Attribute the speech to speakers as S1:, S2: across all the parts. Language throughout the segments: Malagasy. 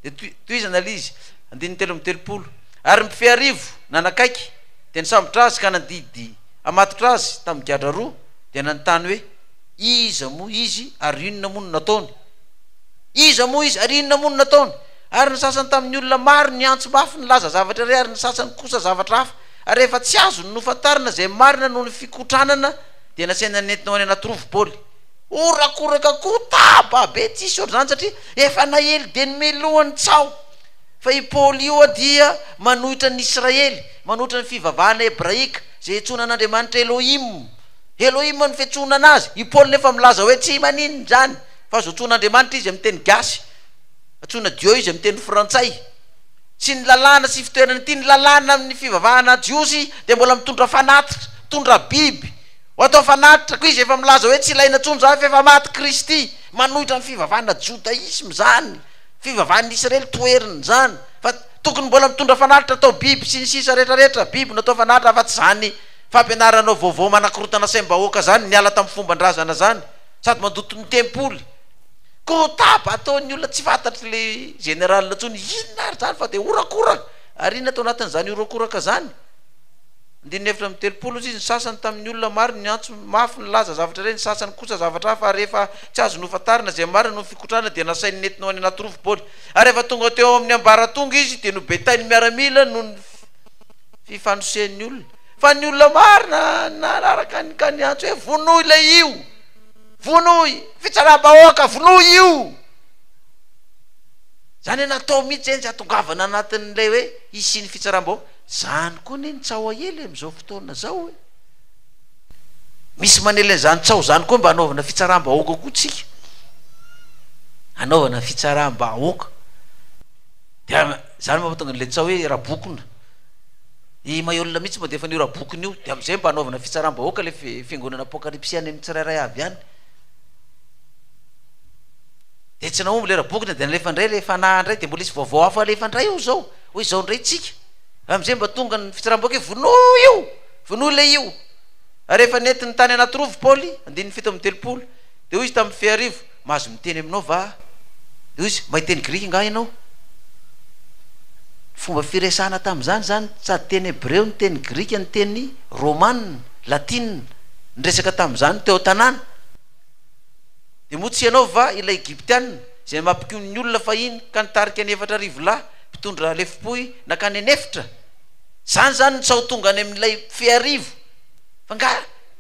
S1: Dia tohizana ilay izy, andininy telo amby telopolo. Ary mpifehy arivo nanakaiky, dia nisambotra azy ka nandidy hamatotra azy tamin'ny gadra roa, dia nanontany hoe, Iza moa izy, ary inona moa no nataony? Iza moa izy, ary inona moa no nataony? Ary ny sasany tamin'ny olona maro niantso mafy nilaza zavatra iray, ary ny sasany kosa zavatra hafa. Ary rehefa tsy azony nofantarina izay marina noho ny fikotranana, dia nasaina nentina ho any anaty rova Paoly. Horakoraka koa taba be tsisy ohatr'izany satria efa naely dia nomey lohany tsaho fa i Paoly io hoa dia manohitra an'i Israely, manohitra ny fivavahana hebraika izay iantsoana an'Andriamanitra Elohim. Elohim no fiantsoana an'azy. I Paoly nefa milaza hoe tsy maninona izany fa azo antsoina Andriamanitra izy amin'ny teny gasy, antsoina Dieu izy amin'ny teny frantsay. Tsy ny lalàna sy fitoerana ity, ny lalàna amin'ny fivavahana jiosy dia mbola mitondra fanatitra, mitondra biby, Ho atao fanatitra, koa izy efa milaza hoe tsy ilaina intsony izany fa efa maty Kristy. Manohitra ny fivavahana jodaisma izany, fivavahan'ny Israely toheriny izany, fa tokony mbola mitondra fanatitra atao biby sy ny sisa rehetra rehetra biby no atao fanatitra afa-tsy izany fampianaranao vaovao manakorotana saim-bahoaka izany niala tamin'ny fomban-drazana izany sady mandoto ny tempoly. Koa taba ataon'ny olona tsy fantatry le général intsony inona ary izany fa dia horakoraka ary inona tao anatin'izany horakoraka izany? Andininy efatra amby telopolo osa izy, ny sasany tamin'ny olona maro niantso mafy nilaza zavatra iray, ny sasany kosa zavatra hafa, ary rehefa tsy azo nofantarina izay marina noho ny fikotrana dia nasainy nentina ho any anaty rova baolina. Ary rehefa tonga teo amin'ny ambaratonga izy dia nobetain'ny miaramila noho ny fifanosehan'ny olona. Fa ny olona maro nanaraka ny ka niantso hoe, Vonoy ilay io! Vonoy! Fitsaram-bahoaka! Vonoy io! Izany hoe natao mihitsy izay ny tsy hahatongavana anatin'ilay hoe hisian'ny fitsaram-bahoaka. Zany koa anie ny tsaho aely amin'izao fotoana zao e! Misy manely an'izany tsaho zany koa mba anaovana fitsaram-bahoaka koa tsika, anaovana fitsaram-bahoaka, dia zany mahatonga an'ilay tsaho hoe rabokona, i Maihol mitsy mandefa an'io rabokona io, dia am'zay mba anaovana fitsaram-bahoaka le fi- fiangonana apokalipsy any amin'ny tsirairay avy any, dia tsy nahomby le rabokona dia nalefa ndray le fanahy ndray dia mbola hisy vaovao hafa alefa ndray eo zao. Hoy izao indray tsika, amin'izay mba tonga ny fitsaram-bahoaka hoe vonoy io! Vonoy ilay io! Ary rehefa nentiny tany anaty rova i Paoly, andininy fito amby telopolo, dia hoy izy tamin'ny feharivo, Mahazo miteny aminao va aho? Dia hoy izy, Mahay teny grika angaha ianao? Fomba firesahana tamin'izany izany, sady teny hebreo no teny grika no teny romana, latina, niresaka tamin'izany teo an-tanàna. Dia moa tsy ianao va ilay Egyptiana, izay mampikomy ny olona fahiny, ka nitarika ny efatra arivo lahy? mpitondra lefom-pohy nankany an'efitra, zany zany ny tsaho tonga any amin'ilay feharivo, fa nga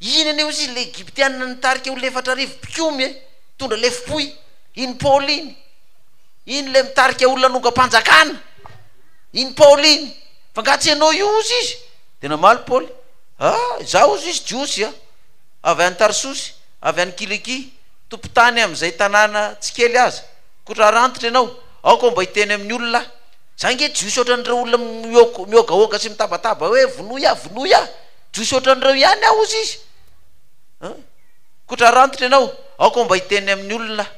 S1: iny anie ozy ilay egyptiana nitarika olona efatra arivo mpikomy e, mpitondra lefom-pohy, iny paoly iny, iny ilay mitarika olona hanongam-panjakana, iny paoly iny, fa nga tsy ianao io ozy izy, dia namaly paoly, ah izaho ozy izy jiosy a, avy any tarsosy, avy any kilikia, tompon-tany amin'izay tanàna tsy kely aza, Koa raha rantitra ianao, aoka mba hiteny amin'ny olona aho. Izaho ange jiosy ohatran'ireo olona mihogahoga sy mitabataba hoe, Vonoy aho! Vonoy aho! Jiosy ohatran'ireo ihany aho, hozy izy. An? Koa raha rantitra ianao, aoka mba hiteny amin'ny olona aho.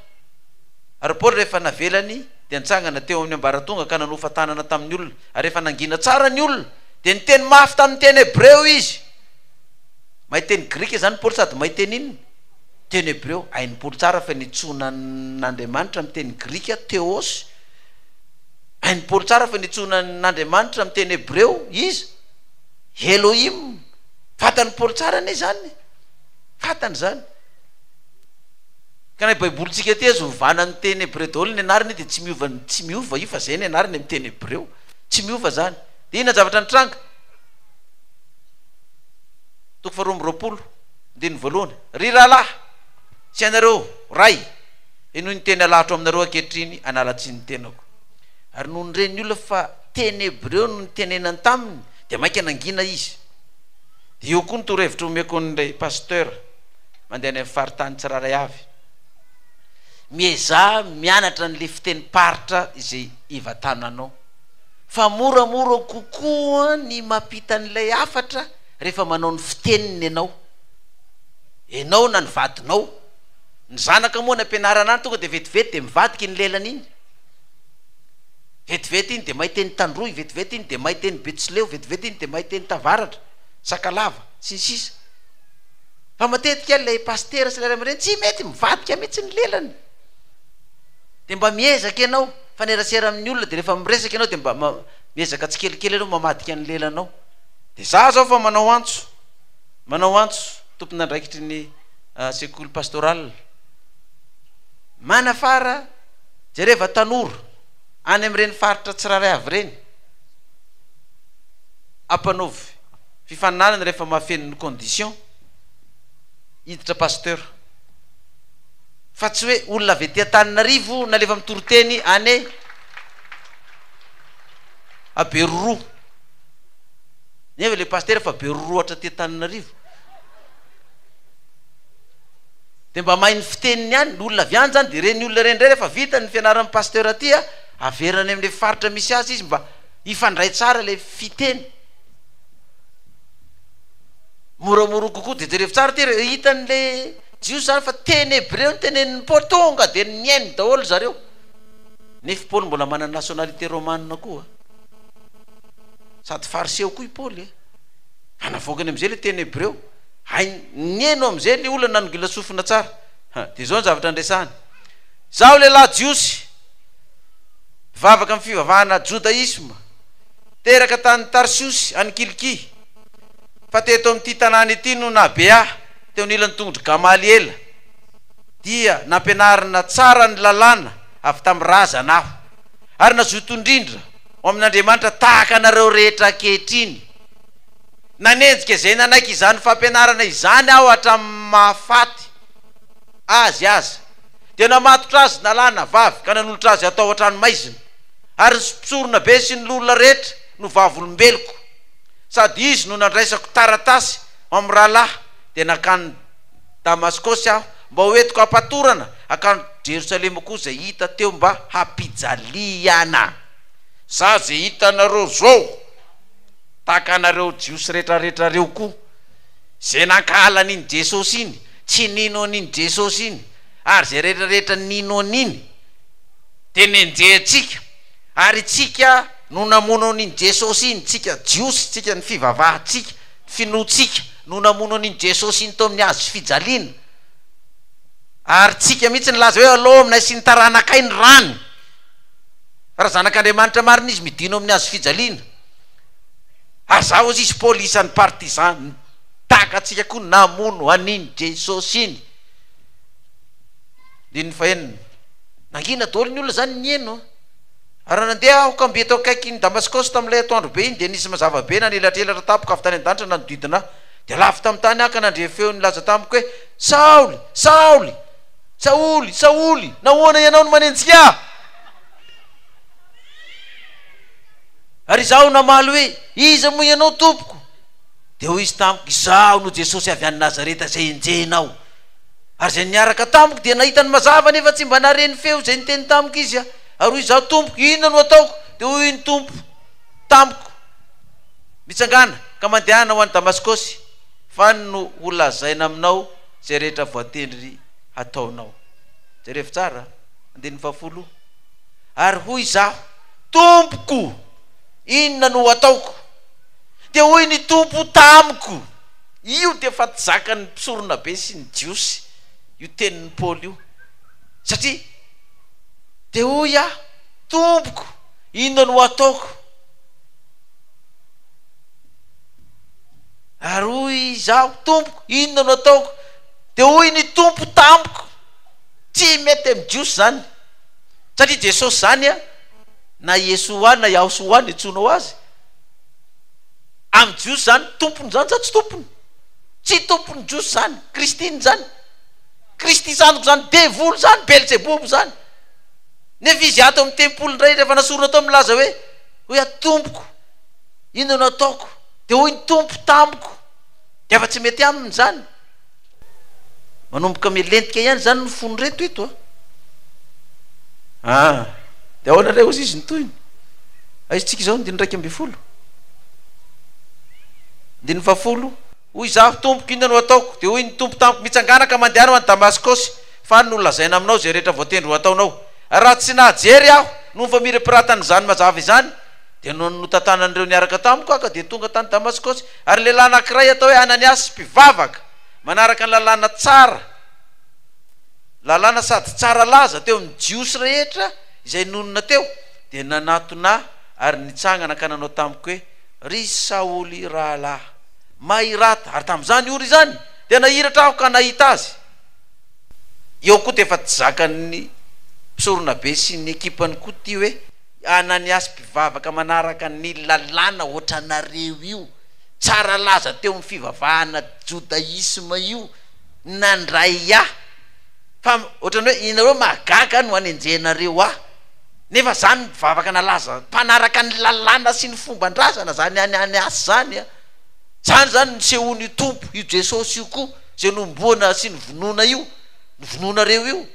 S1: Ary Paoly rehefa navelany, dia nitsangana teo amin'ny ambaratonga ka nanofa tanana tamin'ny olona. Ary rehefa nangina tsara ny olona, dia niteny mafy tamin'ny teny hebreo izy. Mahay teny grika izany Paoly sady mahay teny inona? teny hebreo, hain'i Paoly tsara fa nitsoina an'Andriamanitra amin'ny teny grika, theos, hain'i Paoly tsara fa nitsoina an'Andriamanitra amin'ny teny hebreo iza? Elohim, fantan'i Paoly tsara anie izany, fantany izany. Ka na io baibolintsika ity aza ovana amin'ny teny hebreo daholo ny anarany dia tsy miova, tsy miova io fa izay ny anarany amin'ny teny hebreo, tsy miova izany. Dia inona ny zavatra nitranga? Toko faharoa amby roapolo. Andininy voalohany, Ry rahalahy, sy ianareo ray, henoy ny teny alahatro aminareo ankehitriny, hanala tsiny ny tenako. Ary nony re ny olona fa teny hebreo no nitenenany taminy, dia mainka nangina izy. Dia io koa ny torohevitra omeko an'ilay pasteur mandeha any amin'ny faritany tsirairay avy. Miezaha mianatra an'ilay fitenim-paritra izay ivatananao. Fa moramora kokoa ny mampita an'ilay hafatra, rehefa manao ny fiteniny ianao, ianao na ny vadinao, ny zanaka moa any am-pianarana any tonga dia vetivety dia mivadika iny lelany iny, vetivety iny dia mahay teny tandroy, vetivety iny dia mahay teny betsileo, vetivety iny dia mahay teny tavaratra, sakalava, sy ny sisa Fa matetika ilay pasitera sy ilay ray aman-dreny tsy mety, mivadika mihitsy ny lelany, dia mba miezaka ianao, mifanerasera amin'ny olona dia rehefa miresaka ianao dia mba miezaka tsikelikely ianao mamadika ny lelanao. Dia izaho izao vao manao antso, manao antso tompon'andraikitry ny sekoly pastoral, manafara jereva tanora any amin'ireny faritra tsirairay avy ireny, ampanaovy fifaninanana rehefa mahafeno ny condition hiditra pasteur, fa tsy hoe olona avy aty Antananarivo nalefa mitoriteny any Aberoroa. Nefa le pasitera fa be rorohatra aty Antananarivo. Dia mba mahay ny fiteniny ihany, ny olona avy any izany dia ireny olona ireny indray rehefa vita ny fianaran'ny pasitera aty a, averina any amin'ilay faritra misy azy izy mba hifandray tsara ilay fiteny. Moramora kokoa dia jereo tsara ity rehefa hitan'ilay Jiosy izany fa teny hebreo no tenenin'i Paoly, tonga dia nihaino daholo ry zareo. Nefa i Paoly mbola manana nationalité romanina koa. Sady fariseo koa i Paoly e! Anavoakany amin'izay ilay teny hebreo. Hainy nihaino amin'izay ilay olona nanongila sofina tsara. Ha, dia izao ny zavatra niresahany. Izaho lehilahy jiosy, mpivavaka amin'ny fivavahana jodaisma, teraka tany Tarsiosy, any Kilikia, fa teto amin'ity tanàna ity no nahabe ahy, teo anilan'ny tongodry Gamaliela, dia nampianarina tsara ny Lalàna avy tamin'ny razana aho. ary nazoto indrindra ho amin'Andriamanitra tahaka anareo rehetra ankehitriny. Nanenjika izay nanaiky izany fampianarana izany aho hatramin'ny maha faty azy aza. Dia namatotra azy nalahy na vavy ka nanolotra azy hatao an-tranomaizina, ary ny mpisorona be sy ny loholona rehetra no vavolombeloko. Sady izy no nandraisako taratasy ho amin'ny rahalahy dia nankany Damaskosy aho, mba ho entiko hampatorana hankany Jerosalema koa izay hita teo mba hampijaliana. Zah ze hitanareo zao, tahaka anareo Jiosy retraretra reo koa, ze nankahala an'iny Jesosy iny, tsy nino an'iny Jesosy iny, ary ze retraretra nino an'iny, de nenjehantsika, ary tsika no namono an'iny Jesosy iny, tsika Jiosy, tsika ny fivavahantsika, finoantsika no namono an'iny Jesosy iny teo amin'ny hazo fijaliana. Ary tsika mihitsy nilaza hoe alao aminay sy ny taranakay ny rany. Fa raha zanak'Andriamanitra marina izy midino amin'ny hazo fijaliana. Ary za ozy izy Paoly isan'ny partisan nitaka antsika koa namono an'iny Jesosy iny. Andininy fahenina. Nangina daholo ny olona zany nieno. Ary nandeha aho ka mby teo akaikin'i Damaskosy tamin'ilay atoandro be iny, dia nisy mazava be nanelatrelatra tampoka avy tany an-danitra nanodidina ahy. Dia lavo tamin'ny tany aho ka nandre feo nilaza tamiko hoe, Saoly! Saoly! Saoly! Saoly! Nahoana ianao no manenjika ahy? Ary izaho namaly hoe, Iza moa ianao, Tompoko? Dia hoy izy tamiko, Izaho no Jesosy avy any Nazareta izay enjehinao. Ary izay niaraka tamiko dia nahita ny mazava nefa tsy mba nahare ny feo izay niteny tamiko izy. Ary hoy izaho, Tompoko, inona no ataoko? Dia hoy ny Tompo tamiko, Mitsangàna, ka mandehana ho any Damaskosy, fa any no holazaina aminao izay rehetra voatendry hataonao. Jerevo tsara andininy fahafolo, Ary hoy izaho, Tompoko, inona no ataoko? Dia hoy ny Tompo tamiko, Io dia efa tsy zakan'ny mpisoronabe sy ny Jiosy io tenin'i Paoly io, satria Dia hoy aho, Tompoko, inona no hataoko? Ary hoy izaho, Tompoko, inona no ataoko? Dia hoy ny Tompo tamiko, Tsy mety amin'ny Jiosy izany, satria Jesosy izany an, na Iesoà na Iahosoà no iantsoanao azy, amin'ny Jiosy izany tompon'izany sa tsy tompony? Tsy tompon'ny Jiosy izany, Kristin'izany. Kristy zandriko izany devoly izany, Belzebobo izany. Nefa izy ato amin'ny tempoly indray rehefa nasorona tao milaza hoe, hoy aho, Tompoko, inona no ataoko? Dia hoy ny Tompo tamiko, dia efa tsy mety aminy izany. Manomboka milentika ihany izany ny fon'ireto eto a. Ah, dia ahoana indray hozy izy ny tohiny? Aizintsika izao ny diny iraika ambin'ny folo. Diny fahafolo. Hoy izaho, Tompoko, inona no hataoko? Dia hoy ny Tompo tamiko, Mitsangàna ka mandehana ho any Damaskosy, fa any no holazaina aminao izay rehetra voatendry ho ataonao. Raha tsy nahajery aho noho ny famirapiratany izany mazava izany, dia noho ny notantanan'ireo niaraka tamiko aho ka dia tonga tany Damaskosy, ary lehilahy anankiray atao hoe Ananiasy, mpivavaka, manaraka ny lalàna tsara, lalàna sady tsara laza teo amin'ny Jiosy rehetra izay nonina teo, dia nanatona ahy ary nitsangana ka nanao tamiko hoe, Ry Saoly rahalahy, mahirata. Ary tamin'izany ora izany dia nahiratra aho ka nahita azy. Eo koa dia efa tsy zakan'ny mpisoronabe sy ny ekipany koa ity hoe Ananiasy mpivavaka manaraka ny lalàna hoatranareo io, tsara laza teo amin'ny fivavahana jodaisma io, nandray ahy. Fa hoatran'ny hoe ianareo mahagaga no anenjehanareo ahy. Nefa zany mpivavaka nalaza mpanaraka ny lalàna sy ny fomban-drazana zany any any as zany a! Zany zany nisehoan'io Tompo, io Jesosy io koa zay nomboana sy novonoina io, novonoinareo io,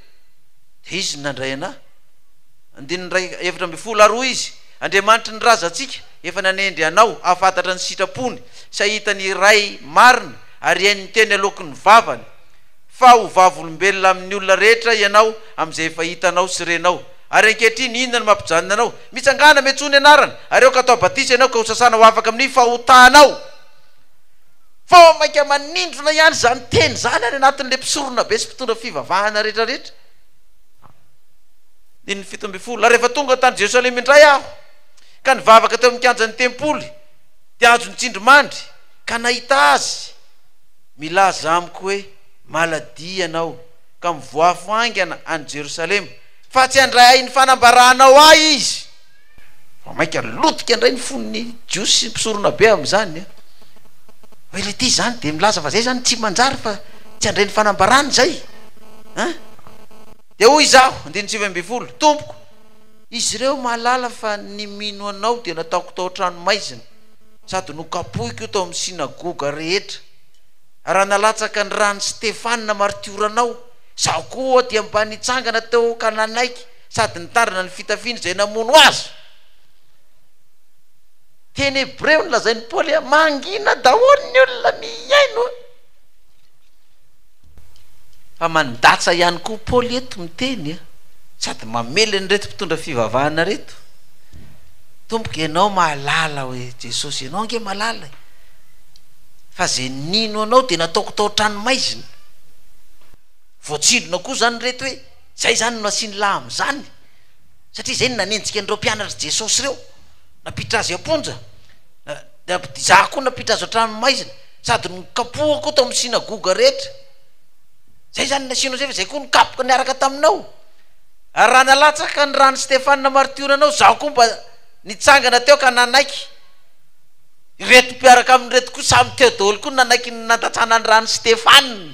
S1: dia Izy no nandray anà. Andininy iray efatra ambin'ny folo ary hoy Izy, Andriamanitry ny razantsika efa nanendry anao hahafantatra ny sitrapony sy hahita ny Ray marina ary hihaino ny teny aloaky ny vavany, fa ho vavolombelona amin'ny olona rehetra ianao amin'izay efa hitanao sy renao. Ary ankehitriny, inona no mampijanona anao? Mitsangàna, miantsoa ny Anarany, ary aoka hatao batisa ianao ka hosasana ho afaka amin'ny fahotanao. Vao mainka manindrona ihany izany teny izany any anatin'ilay mpisoronabe sy mpitondra fivavahana rehetrarehetra. Andininy fito ambin'ny folo, Ary rehefa tonga tany Jerosalema indray aho, ka nivavaka teo amin'ny kianjan'ny tempoly, dia ajo ny tsindrimandry, ka nahita Azy milaza amiko hoe, Maladia ianao, ka mivoafo haingana any Jerosalema, fa tsy handray ahy ny fanambaranao ahy izy. Vao mainka lotika indray ny fon'ny Jiosy sy ny mpisoronabe amin'izany hoe, ilay ity izany dia milaza fa izay izany tsy manjary fa tsy handray ny fanambarany izay an! Dia hoy izaho, andininy sivy ambin'ny folo, Tompoko, izy ireo mahalala fa ny mino anao dia nataoko tao an-tranomaizina sady nokapohiko tao amin'ny synagoga rehetra. Raha nalatsaka ny ran'i Stefana martioranao, izaho koa dia mba nitsangana teo ka nanaiky sady nitandrina ny fitafiany izay namono azy. Teny Hebreo no lazain'i Paoly hoe, Mangina daholo ny olona mihaino. Fa mandatsa ihany koa Paoly eto miteny sady mamely an'ireto mpitondra fivavahana ireto, Tompoko, ianao mahalala hoe Jesosy, ianao ange malala e! fa ze nino anao de nataoko tao tranomaizina voatsindrona koa zany reto hoe zay zany no nasiany la amzany satria zay no nanenjika an'ireo mpianatry jesosy reo nampiditra azy amponja za koa nampiditra azy tranomaizina sady nokapohako tao aminy sinagoga rehetra zay zany nasianao zay fa zay koa no kapoka niaraka taminao ary raha nalatsaka ny rany stefana martiora anao za koa mba nitsangana teo ka nanaiky Ireto mpiaraka aminy ireto koa samy teo daholo koa nanaiky ny nandatsana ny ran'i Stefana.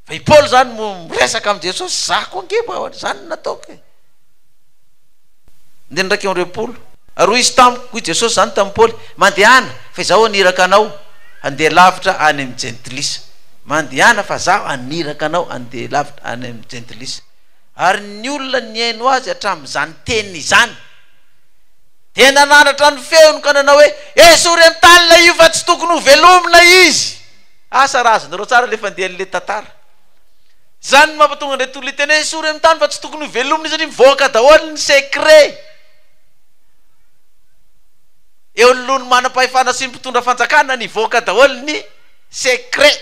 S1: Fa i Paoly izany mo miresaka amin'i Jesosy, izaho koa ange mba izany no nataoko e. Andininy iraika amby roapolo. Ary hoy izy tamiko, hoy Jesosy izany tamin'i Paoly, Mandehana, fa izaho haniraka anao handeha lavitra any amin'ny Jentilisa. Mandehana fa izaho haniraka anao handeha lavitra any amin'ny Jentilisa. Ary ny olona nihaino azy hatramin'izany teny izany, Dia nanandratra ny feony ka nanao hoe, Esory an-tany ilay io fa tsy tokony ho velomina izy! Asa raha azonareo tsara ilay fandehan'ilay tantara. Izany no mampatonga an'ireo tolona hiteny hoe, Esory amin'ny tany fa tsy tokony ho velomina izy satria mivoaka daholo ny secret eo anoloan'ny manam-pahefana sy ny mpitondra fanjakana ny hivoaka daholo ny secret.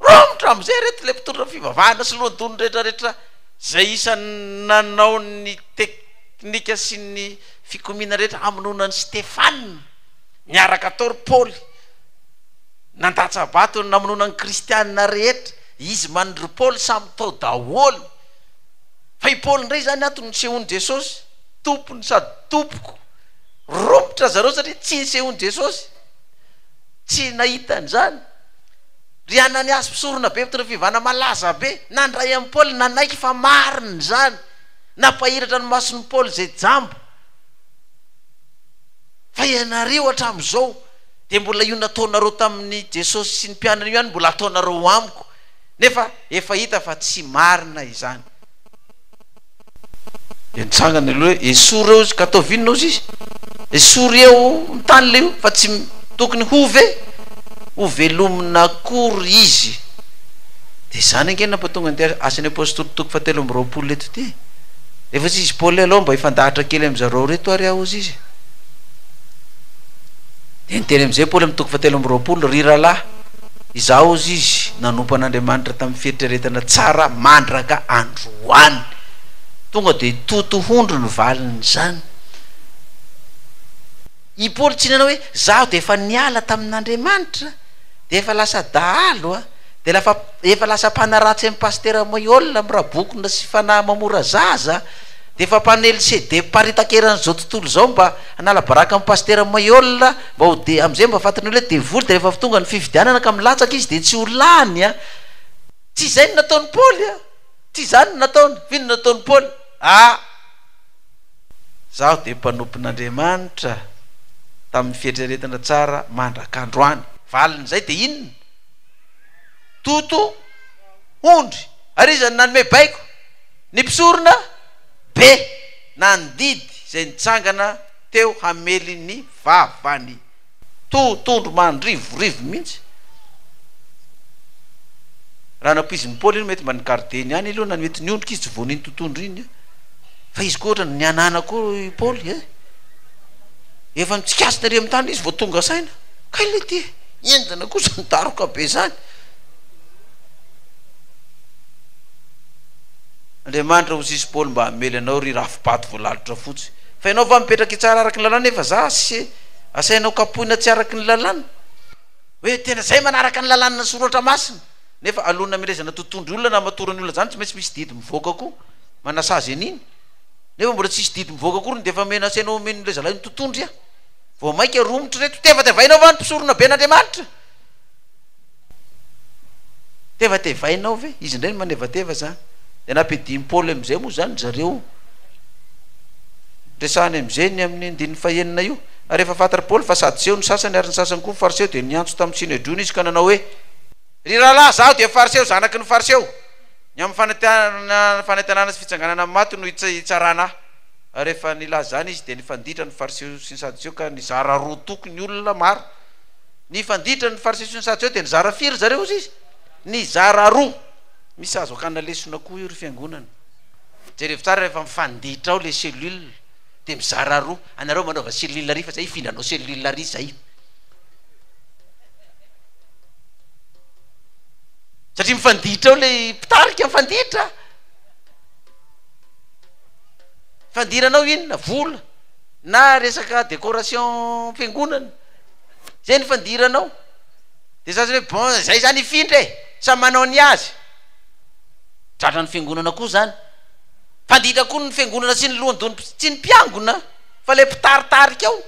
S1: Romotra amin'izay ireto ilay mpitondra fivavahana sy lohandohany rehetrarehetra izay isan'ny nanao ny tek. Tnika sy ny fikomiana rehetra hamonoana an'i Stefana, niaraka tao ry Paoly, nandatsa-bato ny namonoana ny kristiana rehetra, izy man ry Paoly samy tao daholo, fa i Paoly indray izany ato nisehoan'i Jesosy, tompony sady tompoko, romotra zareo satria tsy nisehoan'i Jesosy, tsy nahita an'izany, ry Ananiasy mpisoronabe mpitondra fivana malaza be, nandray an'i Paoly nanaiky fa marina izany, Nampahiratra ny mason'i Paoly izay jamba. Fa ianareo hatramin'izao dia mbola io nataonareo tamin'i Jesosy sy ny mpianany io ihany no mbola ataonareo amiko, nefa efa hita fa tsy marina izany. Dia nitsangana ilay hoe, Esory ireo izy, ka ataovy inona hozy izy? Esory eo amin'ny tany ilay io, fa tsy tokony hove, hovelomina akory izy. Dia izany ange no nampatonga an'ity Asan'ny Apostoly toko fahatelo amby roapolo eto ity. Rehefa tsy izy Paoly aleo mba hifandahatra kely amin'i zareo ireto ary aho hozy izy. Dia niteny amin'izay Paoly amin'ny toko fahatelo amby roapolo, Ry rahalahy, izaho hozy izy nanompo an'Andriamanitra tamin'ny fieritreretana tsara mandraka androany. Tonga dia totohondry ny valin'izany. I Paoly tsy nanao hoe, Izaho dia efa niala tamin'Andriamanitra, dia efa lasa dahalo. Dia lafa efa lasa mpanaratsy an'i Pasitera Moiol amin'ny rabokona sy fanahy mamora zaza, dia efa mpanely CD mparitaka eran'izao tontolo izao mba hanala baraka amin'i Pasitera Moiol mba ho de, amin'izay mba fantan'ny olona hoe devoly, dia rehefa avy tonga ny fifidianana ka milatsaka izy dia tsy ho lany an! Tsy izay no nataon'i Paoly an! Tsy izany no nataony! F'inona no nataon'i Paoly? Ah! Zaho dia mpanompon'Andriamanitra tamin'ny fieritreretana tsara mandrak'androany. Valin'izay dia inona? Toto ondry ary iza no nanome baiko? Ny mpisorona be nandidy izay nitsangana teo hamely ny vavany. Toto ondry mandrivorivo mihitsy. Raha nampoizin'i Paoly iny mety mba ny gardeny ihany aloha nanome toniondrika izy tsy voan'iny toto ondry iny fa izy koa ohatrany nihanana koa i Paoly eh! Efa mitsikasina ery amin'ny tany izy vao tonga saina. Kay le ty e! Enjana kosa ny daroka be zany. Andriamanitra ho sisy Paoly mba hamely anao ry rafibato voalalotra fotsy fa ianao va mipetraka hitsara araky ny lalàna nefa za se asainao kapohina tsy araky ny lalàna hoe tena zay manaraka ny lalàna soratra masina nefa alona milezana totondry olona na matorany olona zany tsy maintsy misy didy mivoaka koa manasazy an'iny nefa mbola tsisy didy mivoaka akory ny defa mena asainao omeny le zalahy ny totondry a Vao maika romotra ireto. Tevatevainao va ny mpisorona ben' Andriamanitra? Tevatevainao ve? Izy indray ny manevateva zany. Dia nampiadian'i Paoly amin'izay moa zany zareo. Resahany amin'izay ny amin'ny andininy fahenina io. Ary rehefa fantatr'i Paoly fa sadoseo ny sasany ary ny sasany koa fariseo dia niantso tamin'ny synedriona izy ka nanao hoe, Ry rahalahy, izaho dia fariseo, zanaky ny fariseo. Ny amin'ny fanantenana sy fitsanganana amin'ny maty no hitsarana ahy. Ary rehefa nilaza izany Izy, dia nifanditra ny Fariseo sy ny Sadoseo ka nizara roa toko ny olona maro. Nifanditra ny Fariseo sy ny Sadoseo, dia nizara firy ry zareo hozy Izy? Nizara roa! Misy azo akana lesona koa io ry fiangonana. Jerevo tsara rehefa mifanditra ao ilay cellule, dia mizara roa. Anareo manaova cellule ary fa izay hifindra hanao cellule ary izay. Satria mifanditra ao ilay mpitarika, mifanditra. fandiranao inona vola na resaka décoration fiangonana zay ny fandiranao de za zany hoe bon zay zany hifindra e samy manao ny azy tratra ny fiangonana koa zany fanditra koa ny fiangonana sy ny lohandohany tsy ny mpiangona fa le mpitaritarika ao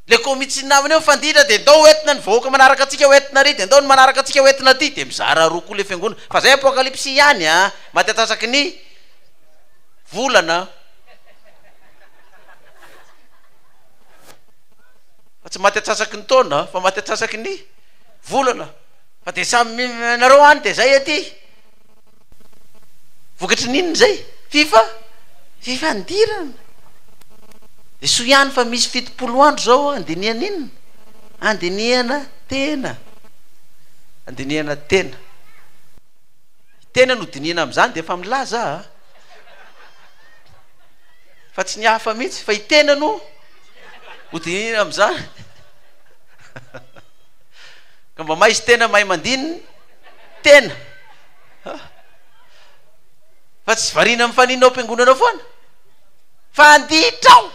S1: le komitsin namany eo mifandidra de ndao hoentina ny vahoaka manaraka antsika hoentina ary de ndao ny manaraka antsika hoentina aty de mizara roa koa le fiangonana fa zay apocalypse ihany a matiatasaky ny volana fa tsy maty atsasaky ny taona fa maty atsasaky ny volana fa de samy nareo any de zay aty Vokatry ny inona izay? Fifa, fifandirana. Dia soa ihany fa misy fitopolo andro izao handinihana inona? Handinihana tena. Handinihana tena. Tena no dinihina amin'izany dia efa milaza aho. Ah. Fa tsy ny hafa mihitsy, fa i tena no ho dinihina amin'izany. Ka mba maizy tena mahay mandinina tena. Fa tsy variana amin'ny fanina ao am-piangonana foana. Fanditrao!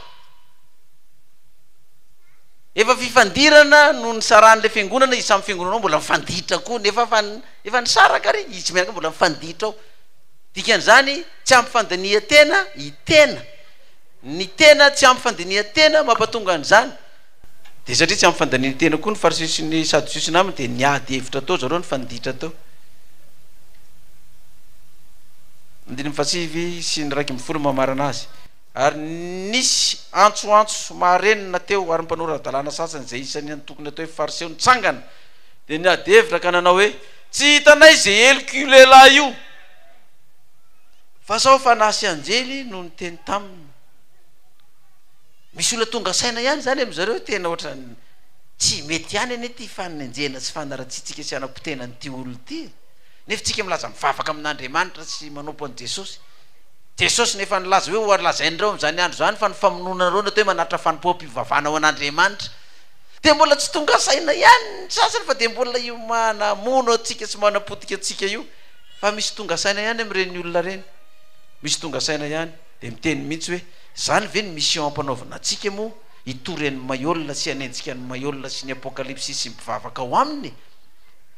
S1: Efa fifandirana no nisaran'ilay fiangonana, izy samy fiangonana ao mbola mifanditra koa, nefa efa, efa nisaraka ary, izy mianaka mbola mifanditra ao. Dikan'izany, tsy ampy fandinihan-tena i tena. Ny tena tsy ampy fandinihan-tena mampatonga an'izany. Dia satria tsy ampy fandanian-tena koa ny Fariseo sy ny Sadoseo sy ny namany dia niady hevitra tao zareo nifanditra tao. Andininy fahasivy sy ny iraika ambin'ny folo no mamarana azy. Ary nisy antsoantso maharenina teo ary ny mpanao ara-dalàna sasany izay isan'ny antokony atao hoe Fariseo nitsangana dia niady hevitra ka nanao hoe, Tsy hitanay izay heloka io lehilahy io fa sao fanahy sy anjely no niteny taminy. Misy olona tonga saina ihany zany amin zareo tena otrany tsy mety ihany anie ty fanenjehana sy fanaratsiantsika sy hanapotehina an'ity olona ity e! nefa tsika milaza mivavaka amin'Andriamanitra sy manompo an'i Jesosy, Jesosy nefa nilaza hoe ho lazain'ireo amin'izany andro izany fa ny famonoanareo no atao hoe manatitra fanompoam-pivavahana ho an'Andriamanitra dia mbola tsy tonga saina ihany ny sasany fa dia mbola io manamono antsika sy manapotika antsika io fa misy tonga saina ihany amin'ireny olona ireny, misy tonga saina ihany. Dia miteny mihitsy hoe, izany ve ny mission ampanaovina antsika moa, hitory an'i Maiola sy hanenjika an'i Maiola sy ny Apokalypsy sy ny mpivavaka ao aminy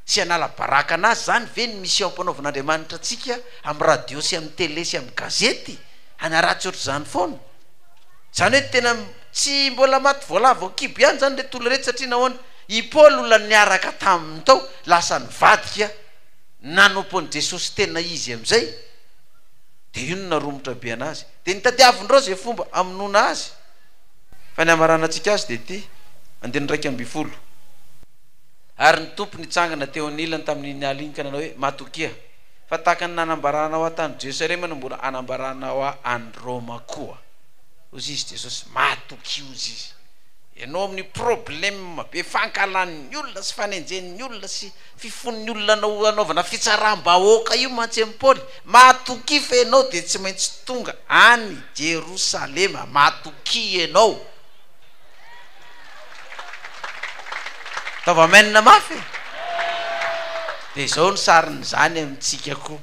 S1: sy hanala baraka anazy, izany ve ny mission ampanaovin'Andriamanitra antsika amin'ny radio sy amin'ny télé sy amin'ny gazety, hanaratsy ohatr'izany foana? Izany hoe tena tsy mbola maty voalavo ao kibo ihany izany ilay tolorety satria nahoana? I Paoly olona niaraka taminy tao lasa nivadika nanompo an'i Jesosy tena izy amin'izay. Dia inona romotra be anazy? Dia nitadiavin'ireo izay fomba hamonoana azy. Fa ny hamaranantsika azy dia ity, andininy iraika ambin'ny folo, Ary ny Tompo nitsangana teo anilany tamin'iny alina iny ka nanao hoe, Matokia, fa tahaka ny nanambaranao ahy tany Jerosalema no mbola hanambaranao ahy any Roma koa. Hoy izy Jesosy, Matokia hoy izy. Ianao amin'ny probleme be fankahalan'ny olona sy fanenjehan'ny olona sy. Fifon'ny olona anao hanaovana fitsaram-bahoaka io mantsy an'i Paoly, Matokia fa ianao dia tsy maintsy tonga any Jerosalema. Matokia ianao. Ataovy amen mafy e! Dia izao ny sarin'izany amintsika koa.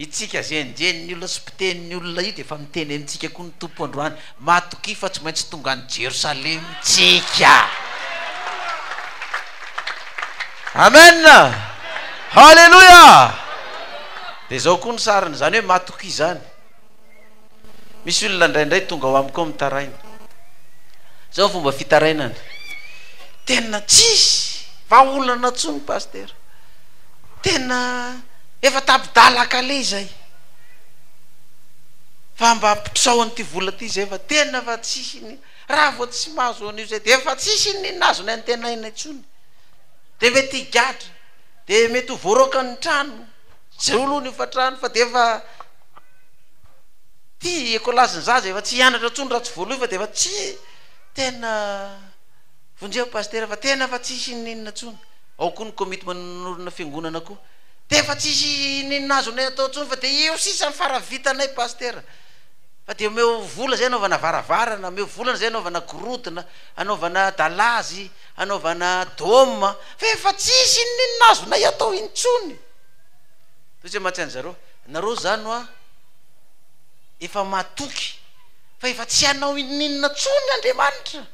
S1: Itsika izay enjehin' ny olona sy mpiteny ny olona io dia efa miteny amintsika koa ny Tompo androany, Matokia fa tsy maintsy tonga any Jerosalema tsika. Amen! Haleloia! Dia izao koa ny sariny, izany hoe matokia izany. Misy olona indraindray tonga ao amiko ao mitaraina. Zao ny fomba fitarainany. Tena tsisy vahaolana tsony pasteur. Tena efa tapi-dalaka lé izay. Fa mba ampitrao an'ity vola ity izay fa tena efa tsisy iny. Raha vao tsy mahazo an'io izay dia efa tsisy iny inona azony antenaina intsony. Dia mety higadra, dia mety ho voaroaka ny trano. tsy zay olohany hofatrany fa dia efa ty ecolage ny zaza efa tsy hianatra intsony raha tsy voaloha fa dia efa tsy tena vonjeo pasitera fa tena efa tsy hisy ininona intsony ao koa ny komity manorina fiangonana koa dia efa tsy hisy ininona azonay atao intsony fa dia eo sisa ny fara vitanay pasitera fa dia omeo vola izay anaovana varavarana omeo vola izay anaovana gorodona anaovana dalazy hanaovana dôme fa efa tsisy inon'inona azonay atao intsony toy zay mantsy an'zareo nareo zany hoa efa matoky fa efa tsy hanao inon'inona tsony andriamanitra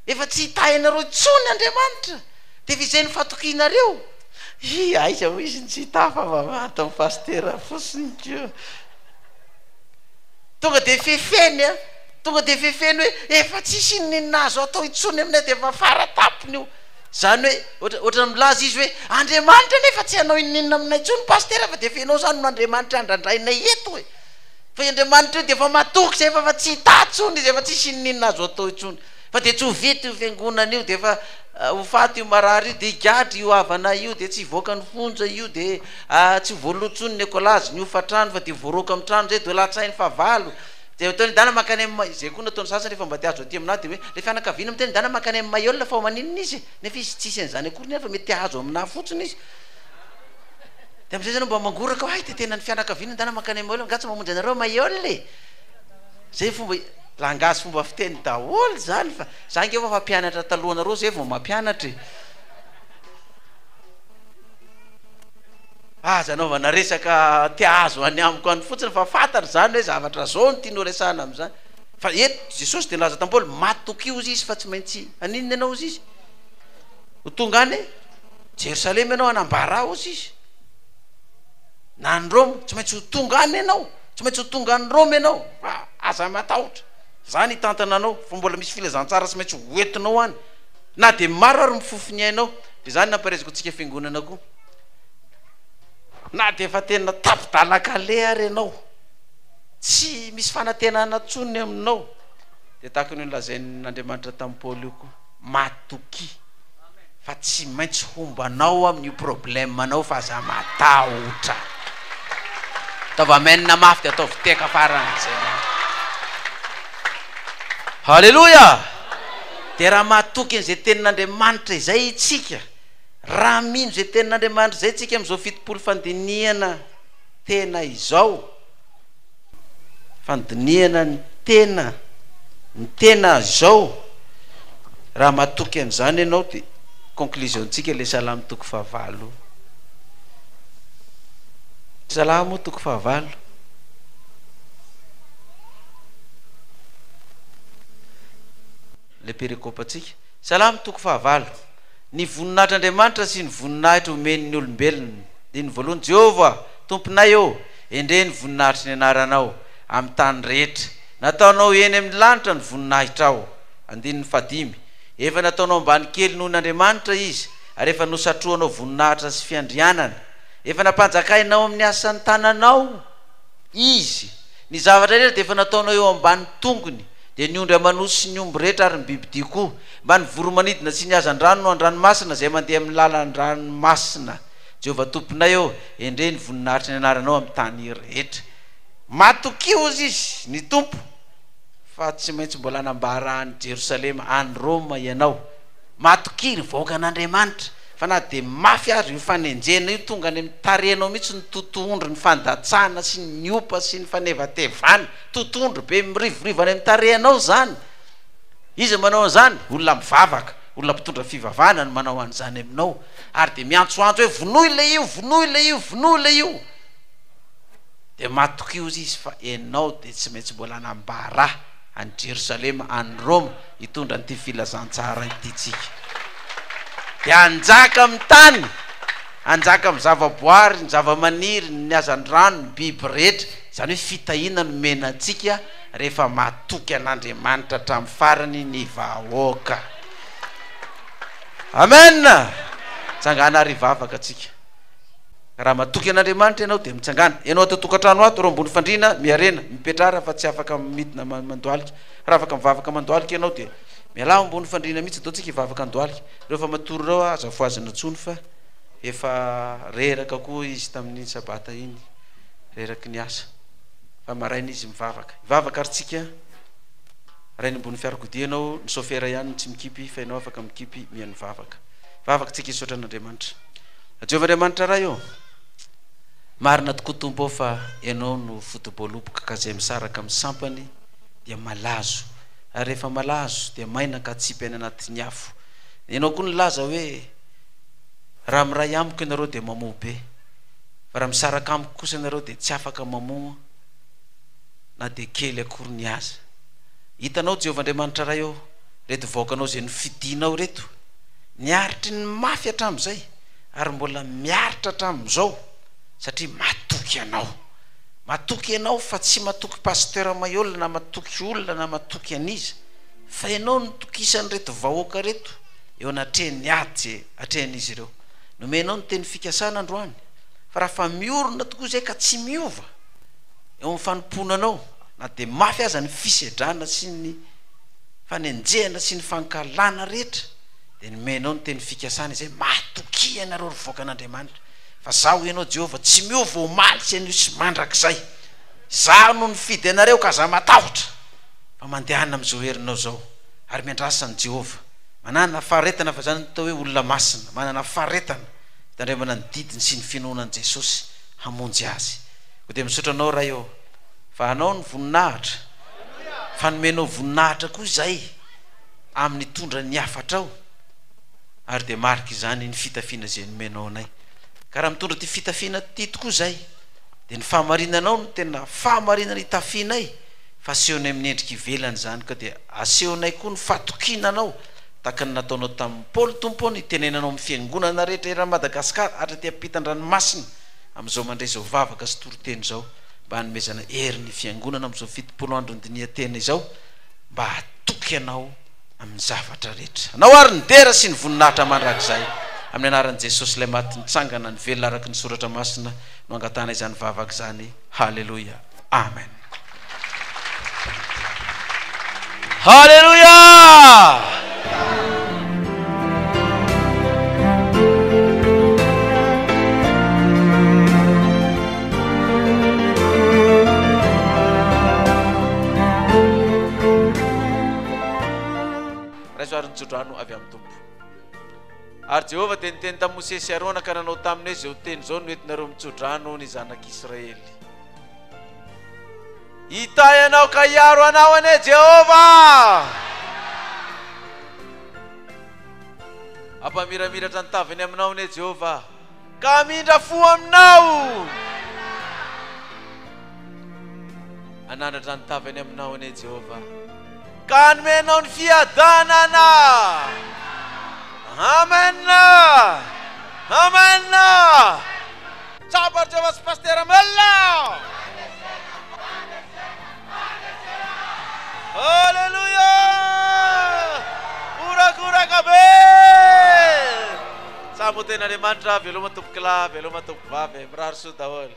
S1: efa tsy hitahinareo tsony andriamanitra de efa izay ny fatokianareo i aiza ho izy ny tsy hitafa fa maty ny pasitera fosiny ko Tonga dia fefeny an! Tonga dia fefeny hoe efa tsisy inon'inona azo atao intsony aminay dia efa fara tampony io. Izany hoe ohatra ohatra milaza izy hoe Andriamanitra anie efa tsy hanao inon'inona aminay intsony pasitera fa dia efa ianao izany no Andriamanitra andrandrainay eto e! Fa i Andriamanitra io dia efa matoky izay fa efa tsy hitahy intsony izy, efa tsisy inon'inona azo atao intsony. Fa dia tsy ho vita io fiangonana io dia efa ho faty io marary io dia higadra io havana io dia tsy hivoaka ny fonja io dia tsy ho voaloa intsony ny ekolazy ny hofantrano fa dia voaroaka amin'ny trano izay dia ho latsahin'ny fahavalo dia ataon'i Dana mankany amin'ny izay koa no ataon'ny sasany rehefa mba te hahazo aty aminà dia hoe ilay fianakaviana miteny Dana mankany amin'ny Mayol fa ho maninona izy e? nefa izy tsisy an'izany akory nefa mety te hahazo aminà fotsiny izy dia amin'izay izy anao mba mangoraka hoe hay dia tena ny fianakaviana Dana mankany amin'ny Mayol angaha tsy mamonjy anareo Mayol e? Zay fomba langage fomba fiteny daholo zany fa za nge efa mpianatra talohanareo zay vao mampianatra e. Aza anaovana resaka te ahazo any amiko any fotsiny fa fantatra zany hoe zavatra zao no tiany horesahana amizany. Fa eto Jesosy dia nilaza tam Paoly matokio hozy izy fa tsy maintsy haninona ianao hozy izy? Ho tonga any Jerosalema ianao hanambara ahy hozy izy. na any Roma, tsy maintsy ho tonga any ianao, tsy maintsy ho tonga any Roma ianao, fa aza matahotra, za ny hitantana anao, fa mbola misy filazantsara tsy maintsy ho entinao any, na dia maro ary mifofo ny ainao, dia zany nampiharezako antsika fiangonana koa, na dia efa tena tapi-dalan-kaleha ary ianao, tsy misy fanantenana intsony ny aminao, dia tahaka ny nolazain'Andriamanitra tamin'i Paoly io koa. matokia fa tsy maintsy homba anao amin'ny io problème anao fa aza matahotra ataovy amen mafy dia ataovy teka faran'izay haleloia dia raha matoky an'izay tenin'andriamanitra izay itsika raha mino izay tenin'andriamanitra izay tsika amin'izao fitopolo fandinihana tena izao fandinihana ny tena ny tena azao raha matoky an'izany ianao dia conclusion tsika le salamo toko fahavalo salamo toko fahavalo le perekopa tsika salamo toko fahavalo ny voninahitr'andriamanitra sy ny voninahitra omen'ny olombelona dia ny voalohany jehovah tomponay ô Endrey ny voninahitry ny anaranao amin'ny tany rehetra. Nataonao eny amin'ny lanitra ny voninahitrao. Andininy fahadimy. Efa nataonao ambany kely noho n'Andriamanitra izy, ary efa nosatrohanao voninahitra sy fiandrianana. Efa nampanjakainao amin'ny asan'ny tananao izy. Ny zavatra rehetra dia efa nataonao eo ambany tongony, dia ny ondry aman'osy sy ny omby rehetra ary ny bibidia koa, mba ny voromanidina sy ny hazandrano no an-dranomasina izay mandeha amin'ny lalan-dranomasina. Jehovah Tomponay ô, endrey ny voninahitry ny anaranao amin'ny tany rehetra. Matokia, hozy izy, ny Tompo, fa tsy maintsy mbola hanambara an'i Jerosalema, any Roma, ianao. Matokia, ry vahoakan'Andriamanitra, fa na dia mafy aza io fanenjehana io, tonga any amin'ny tarehinao mihitsy ny totohondry ny fandatsahana sy ny opa sy ny fanevatevana. Totohondry be mirivorivo any amin'ny tarehinao izany. Iza manao an'izany? Olona mivavaka, olona mpitondra fivavahana no manao an'izany aminao. ary dia miantsoantso hoe vonoy ilay io, vonoy ilay io, vonoy ilay io. Dia matokihoza izy fa ianao dia tsy maintsy mbola hanambara any Jerosalema, any Roma, hitondra an'ity filazantsara ity tsika. Dia hanjaka amin'ny tany, hanjaka amin'ny zavaboary, ny zavamaniry, ny hazandrano, ny biby rehetra. Izany hoe fitahiana no mena antsika rehefa matoky an'Andriamanitra hatramin'ny farany ny vahoaka. amen tsangana ary hivavaka atsika raha matoky an'andriamanitra ianao dia mitsangana ianao atao tokantrano ato reo ambony fandriana miarena mipetra raha fa tsy afaka midina mandoalika raha afaka mivavaka mandoalika ianao dia miala ambony fandriana mihitsy atao tsika hivavaka andoalika reo fa matory reo aza foazina tsony fa efa reraka koa izy tamin'iny sabata iny reraky ny asa fa maraina izy mivavaka hivavaka ary tsika Raha eny ambony fiarakodia ianao, ny sôfera ihany no tsy mikipy, fa ianao afaka mikipy miha mivavaka. Vavaka tsika hisaotra an'Andriamanitra. Jehovah Andriamanitra Ray ô, marina tokoa Tompo ô fa Ianao no foto-boaloboka ka izay misaraka amin'ny sampany dia malazo, ary rehefa malazo dia maina ka atsipy any anatin'ny afo. Ianao koa nilaza hoe, Raha miray amiko ianareo dia mamoa be, fa raha misaraka amiko kosa ianareo dia tsy afaka mamoa. na dia kely akory ny aza. Hitanao Jehovah Andriamanitra Ray ô, reto vahoakanao izay nofidinao ireto, niaritry ny mafy hatramin'izay ary mbola miaritra hatramin'izao satria matoky anao. Matoky ianao fa tsy matoky Pasteur Maihol na matoky olona na matoky an'iza fa ianao no tokisan'ireto vahoaka ireto eo anatrehan'ny ady izay atrehan'izy ireo. Nomenao ny teny fikasana androany fa raha fa miorina tokoa izay ka tsy miova, eo amin'ny fanompoana anao, na dia mafy aza ny fisedrana sy ny fanenjehana sy ny fankahalana rehetra, dia nomenao ny teny fikasana izay, Matokia ianareo ry vaokan'Andriamanitra, fa Zaho ianao Jehovah tsy miova omaly sy anio sy mandrakizay. Izaho no nifidy anareo, ka aza matahotra, fa mandehana amin'izao herinao izao, ary miandrasa an'i Jehovah. Manana faharetana, fa izany no atao hoe olona masina, manana faharetana, fitandremana ny didiny sy ny finoana an'i Jesosy hamonjy azy. Koa dia misaotra anao Ray ô, fa anao ny voninahitra, fa nomenao voninahitra koa izahay amin'ny hitondra ny hafatrao, ary dia marika izany ny fitafiana izay nomenao anay. Ka raha mitondra ity fitafiana ity tokoa izahay, dia ny fahamarinanao no tena fahamarinana itafianay, fa asehonay amin'ny endrika ivelany izany, ka dia asehonay koa ny fatokiana anao, tahaka ny nataonao tamin'i Paoly Tompo ô, ny itenenanao amin'ny fiangonana rehetra eran'i Madagasikara, hatraty am-pitan-dranomasina, Amin'izao mandray izao vavaka sy toriteny izao mba hanomezana hery ny Fiangonana amin'izao fitopolo andron'ny dinihan-tena izao mba hahatoky Anao amin'ny zavatra rehetra. Anao àry ny dera sy ny voninahitra mandrakizay. Amin'ny anaran'i Jesosy Ilay Maty Nitsangana ny Velona araka ny Soratra Masina no angatahana izany vavaka izany. Haleloia. Amen. Haleluia! tsodrano avy amin'ny tompo ary jehovah dia niteny tamin'i mosesy arona ka nanao taminy hoe zao teny izao no entinareo mitsodrano ny zanak'israely Hitahy anao ka hiaro anao anie Jehovah! Hampamiramiratra ny taviny aminao anie Jehovah, ka hamindra fo aminao! Hanandratra ny taviny aminao anie Jehovah, ka hanome anao ny fiadanana! Amen! Amen! Tsapa ry Jehovah sy Pasitera Mella a! Aleloia! Horakoraka be! Tsapa ho tenin'Andriamanitra, veloma tompokolahy, veloma tompokovavy e! Mirary soa daholo.